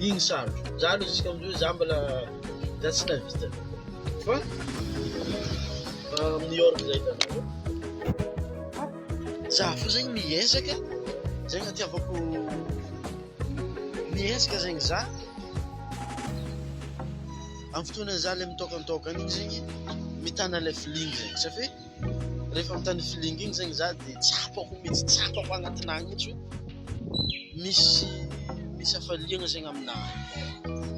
Iny sary. Za aloha zisika amzao za mbola za tsy navita. Fa amin'ny York zay tanareo. Za fo zegny miezaka zegny atiavako miezaka zegny za. Amin'ny fotoana za le mitôkantôka igny zegny mitana le feeling zegny satria Rehefa mitandrina feeling iny zegny za de tsapako mihitsy, tsapako agnatinah mihitsy hoe misy misy hafaliagna zegny aminah.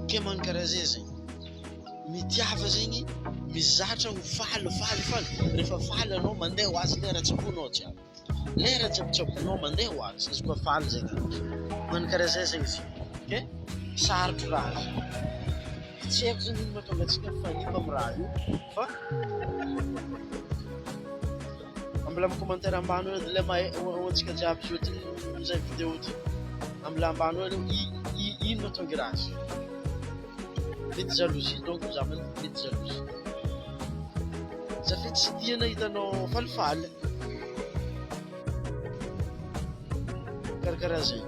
Ke magnano karaha zay zegny, mitiava zegny, mizatra ho faly faly faly, rehefa faly anao mandeha ho azy lera, tsaboinao jiaby. Lera tsabotsaboinao mandeha ho azy izy koa faly izay nanao. Mankarazeza izy. Ok? Sarotro raha izy. Tsy haiko zany inona tonga antsika fa ino amin'ny raha io. Fa mbola amin'ny commentaire ambany eo dia lema ho antsika jiaby io ty izay vidéo ty. Mbola ambany eo i i inona tonga raha izy. Mety jalousie donc za mety jalousie. Za fe tsy tia nahita anao falifaly. Karakara zay.